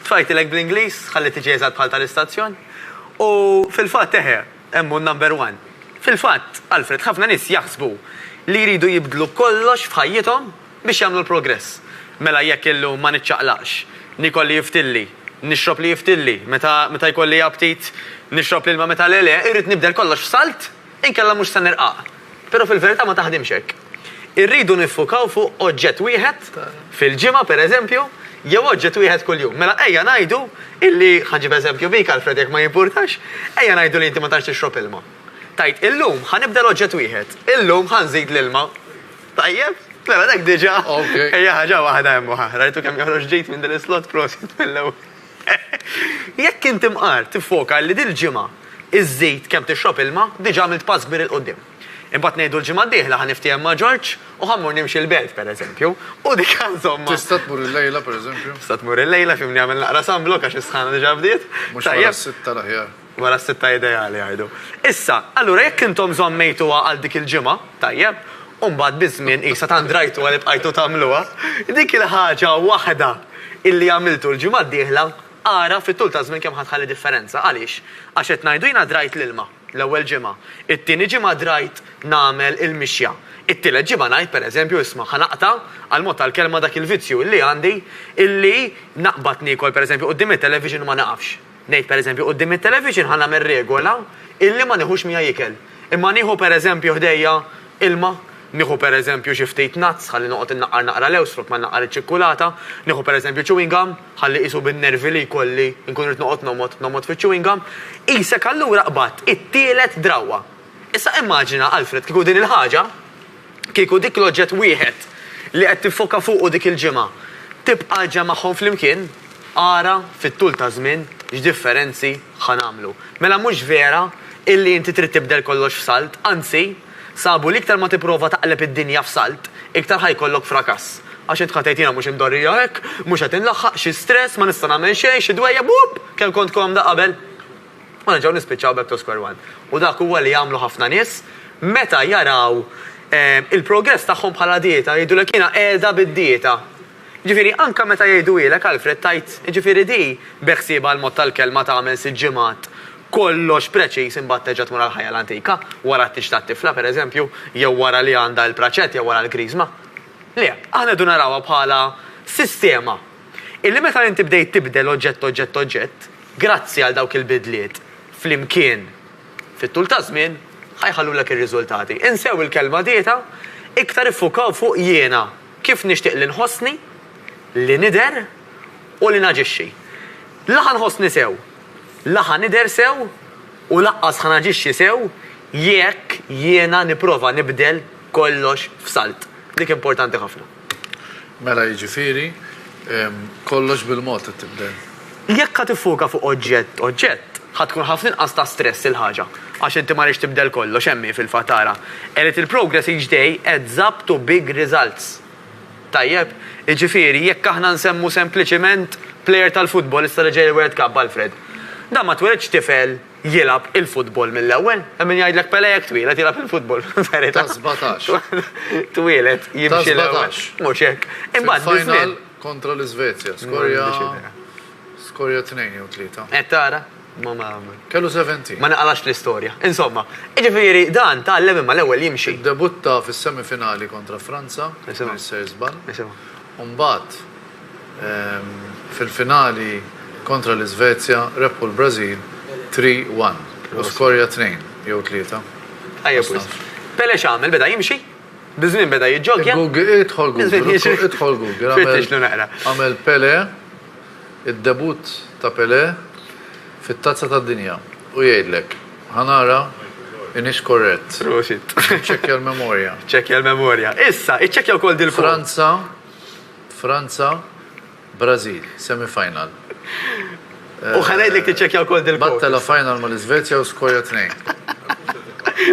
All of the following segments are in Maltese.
Tfajtilek bl-Ingliż, ħalli tiġi eżatt bħal tal-istazzjon. U fil-fatt eħe, hemm hu number one. Fil-fatt, Alfred, ħafna nies jaħsbu li jridu jibdlu kollox f'ħajjithom biex jagħmlu l-progress. Mela jekk illum ma niċċaqlaqx, niekol li jiftilli, nixrob li jiftilli, meta jkolli aptit nixrob l-ilma meta le le, irrid nibdel kollox f'salt? Inkella mhux se nirqaq. Però fil-verità ma taħdimx hekk. Irridu niffukaw fuq oġġett wieħed fil-ġimgħa, pereżempju, jew oġġett wieħed kuljum. Mela ejja ngħidu illi, ħa nġib eżempju bik, Alfred, jekk ma jimpurtax, ejja ngħidu li inti ma tantx tixrob ilma. Tgħid, illum ħa nibdel oġġett wieħed, illum ħa nżid l-ilma. Tajjeb? Mela dak diġà hija ħaġa waħda hemm u ħa. Rajtu kemm joħroġ ġid minn din is-slot? Prosit mill-ewwel. Jekk int imqar tiffoka li dil-ġimgħa żżid kemm tixrob ilma, diġà għamilt pass kbir 'il quddiem. Imbagħad ngħidu l-ġimgħa d-dieħla ħa niftiehem ma' Ġorġ u ħa mmur nimxi l-belt, pereżempju, u dik insomma. Tista' tmur illejla, pereżempju? Tista' tmur illejla, f'imni għamel naqra sunblock għax is-sħana diġà bdiet. Mhux wara s-sitta l-aħjar. Wara s-sitta ideali jgħidu. Issa, allura jekk intom żammejtuha għal dik il-ġimgħa, tajjeb, u mbagħad biż-żmien qisha tant rajtuha li bqajtu tagħmluha, dik il-ħaġa waħda illi għamiltu l-ġimgħa d-dieħla, ara fit-tul taż-żmien kemm ħa tħalli differenza. Għaliex? Għax qed ngħidu jiena drajt l-ilma, l-ewwel ġimgħa, it-tieni ġimgħa drajt nagħmel il-mixja, it-tielet ġimgħa ngħid, pereżempju, isma', ħa naqta', għall-mod tal-kelma, dak il-vizzju illi għandi illi naqbad niekol, pereżempju, quddiem it-television u ma nieqafx. Ngħid pereżempju, quddiem it-television ħa nagħmel regola illi ma nieħux miegħi ikel. Imma nieħu pereżempju ħdejja ilma, nieħu pereżempju xi ftit nuts ħalli noqgħod innaqqar naqra lewż flok ma nnaqqar iċ-ċikkulata, nieħu pereżempju chewing gum ħalli qisu bin-nervi li jkolli nkun irrid noqgħod nomgħod, nomgħod fiċ-chewing gum. Qisek allura qbadt it-tielet drawwa. Issa immaġina, Alfred, kieku din il-ħaġa, Kieku dik l-oġġett wieħed li qed tiffoka fuqu dik il-ġimgħa tibqa' ġġemgħhom flimkien, ara, fit-tul taż-żmien, x'differenzi ħa nagħmlu. Mela mhux vera illi inti trid tibdel kollox f'salt, anzi, sabu li iktar ma tipprova taqleb id-dinja f'salt, iktar ħa jkollok frakass. Għax int ħa tgħid jiena mhux imdorrija hekk, mhux qed inlaħħaq, xi stress, ma nista' nagħmel xejn, xi dwejjeb, uupp! Kemm kont komda qabel! U nerġgħu nispiċċaw back to square one. U dak huwa li jagħmlu ħafna nies meta jaraw il-progress tagħhom bħala dieta, jgħidulek jiena qiegħda bid-dieta. Jiġifieri anke meta jgħiduhielek Alfred tgħid jiġifieri di beħsiebha l-mod tal-kelma tagħmel sitt ġimgħat kollox preċiż imbagħad terġa' tmur għall-ħajja l-antika wara t-tieġ tat-tifla pereżempju jew wara li għandha l-praċett jew wara l-kriżma. Le, aħna rridu narawha bħala sistema. illi meta inti bdejt tibdel oġġett-oġġett-oġġett, grazzi għal dawk il-bidliet flimkien fit-tul taż-żmien, ħa jħallulek ir-riżultati. Insew il-kelma dieta, iktar iffukaw fuq jiena, kif nixtieq li nħossni, li nidher u li naġixxi. La ħa nħossni sew, la ħa nidher sew u laqqas ħa naġixxi sew jekk jiena nipprova nibdel kollox f'salt. Dik importanti ħafna. Mela jiġifieri, kollox bil-mod qed tibdel. Jekk ħa tiffoka fuq oġġett oġġett, ħa tkun ħafna inqas ta' stress il-ħaġa. Għax inti ma rridx tibdel kollox, hemm hi fil-fatt ara, A little progress each day adds up to big results. Tajjeb? Jiġifieri, jekk aħna nsemmu sempliċiment plejer tal-futbol issa li ġej il-World Cup, Alfred. Dan ma tweledx tifel jilgħab il-futbol mill-ewwel. Hemm min jgħidlek Pele jekk twieled jilgħab il-futbol. Ta' 17. Twieled jimxi l-ewwel. Mhux hekk. Imbagħad fil-final kontra l-Iżvezja, skorja skorja tnejn jew tlieta. Qed tara? Kellu 70. Ma naqalax l-istorja. Insomma, ġifiri dan ta' l ma l-ewwel jimxi. Debutta fis-semifinali kontra Franza, Mr. Zban. Umbat, fil-finali kontra l-Iżvezja rebħu l-Brażil 3-1 u skorja tnejn jew tlieta. Tajjeb wisq. Pele x'għamel, beda jimxi? Biż-żmien beda jiġġoggja? Idħol Google, idħol Google. Fittixlu naqra. Għamel Pele, id-debutt ta' Pele fit-Tazza tad-Dinja u jgħidlek. Ħa nara inhiex korrett. Prosit. Iċċekkja l-memorja. Iċċekkja l-memorja. Issa, iċċekkja wkoll dil-. Franza. Franza, Brażil, semi-final. U ħa ngħidlek tiċċekkja wkoll dil-kwotas. Battela final mal-Iżvezja u Skoja tnejn.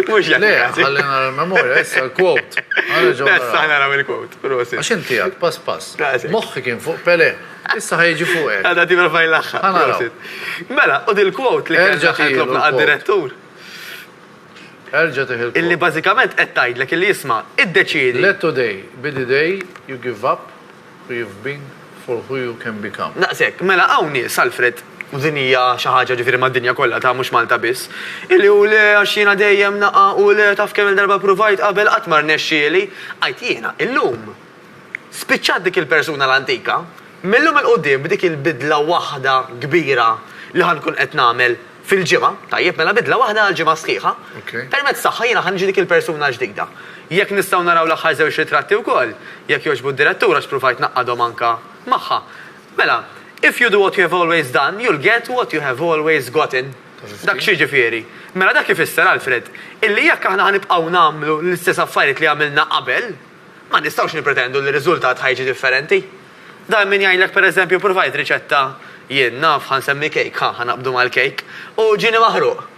Mhux jekk. Le, ħalli nara l-memorja, issa l-quote. Issa naraw il-quote, prosit. Għax inti għad, pass pass. Moħħi kien fuq Pele, issa ħajġi fuq hekk. Għadha tibra fajn l-aħħar. Mela, u dil-quote li kellna ħajtlobna għad-direttur. Erġa' tih il-kop. Illi bażikament qed tgħidlek illi isma', iddeċiedi. Let today be the day you give up who you've been for who you can become. Daqs hekk. Mela hawn nies, Alfred, u din hija xi ħaġa ġifieri mad-dinja kollha ta' mhux Malta biss, illi u le għax jiena dejjem naqa' u le taf kemm-il darba ppruvajt qabel qatt ma rnexxieli. Għidt jiena, illum spiċċat dik il-persuna l-antika. Mil-lum 'il quddiem b'dik il-bidla waħda kbira li ħa nkun qed nagħmel. fil-ġimgħa, tajjeb, mela bidla waħda għall-ġimgħa sħiħa, permezz tagħha jiena ħa niġi dik il-persuna ġdida. Jekk nistgħu naraw l-aħħar żewġ ritratti wkoll, jekk jogħġbu d-Direttur għax pruvajt ngħaqqadhom anke magħha. Mela, If you do what you have always done, you'll get what you have always gotten. Dak x'jiġifieri? Mela dak ifisser, Alfred, illi jekk aħna ħa nibqgħu nagħmlu l-istess affarijiet li għamilna qabel, Ma nistgħux nippretendu li r-riżultat ħa jiġi differenti. Dan minn jgħidlek pereżempju ppruvajt riċetta jien, naf, ħa nsemmi kejk, ħa, ħa naqbdu mal-kejk, u ġieni maħruq.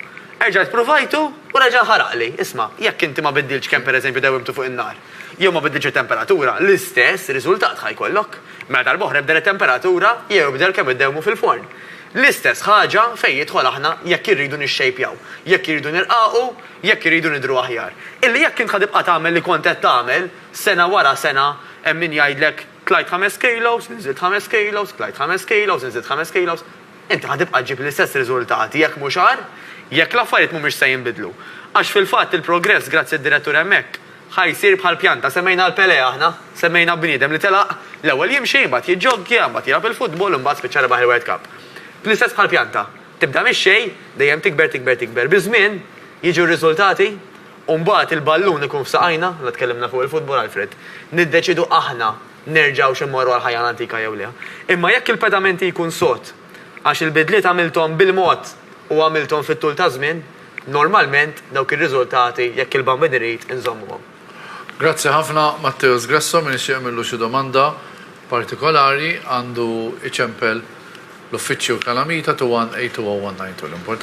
Erġajt ppruvajtu u reġa' nħaraqli. Isma', jekk inti ma biddiltx kemm pereżempju dewwimtu fuq in-nar, jew ma biddiltx it-temperatura, l-istess riżultat ħa jkollok. Mela darb'oħra ibdel it-temperatura jew ibdel kemm iddewwmu fil-forn. L-istess ħaġa fejn jidħol aħna jekk irridu nixxejpjaw, jekk irridu nirqaqu, jekk iridu nidhru aħjar, illi jekk int ħa tibqa' tagħmel li kont qed tagħmel, sena wara sena, hemm min jgħidlek, tlajt ħames kilos, inżilt ħames kilos, tlajt ħames kilos, inżilt ħames kilos, inti ħa tibqa' ġġib l-istess riżultati, jekk mhux agħar, jekk l-affarijiet mhumiex se jinbidlu. Għax fil-fatt il-progress, grazzi d-direttur hemmhekk, ħa jsir bħal pjanta, semmejna l-Pelé aħna, semmejna bniedem li telaq, l-ewwel jimxi, imbagħad jiġġoggja, imbagħad jilgħab il-futbol u mbagħad spiċċa rebaħ il-World Cup. L-istess bħall-pjanta. Tibda mix-xejn, dejjem tikber tikber tikber. Biż-żmien, jiġu r-riżultati u mbagħad il-ballun ikun f'saqajna, la tkellimna fuq il-futbol Alfred, niddeċiedu aħna nerġgħux immorru għall-ħajja l-antika jew le. Imma jekk il-pedamenti jkun sod, għax il-bidliet għamilthom bil-mod u għamilthom fit-tul taż-żmien, normalment dawk ir-riżultati, jekk il-Bambin irid, inżommuhom. Grazzi ħafna Matteus Gresso, min ixtieq jagħmillu xi domanda partikolari għandu iċempel l-uffiċċju Calamita 218201920. L-importanti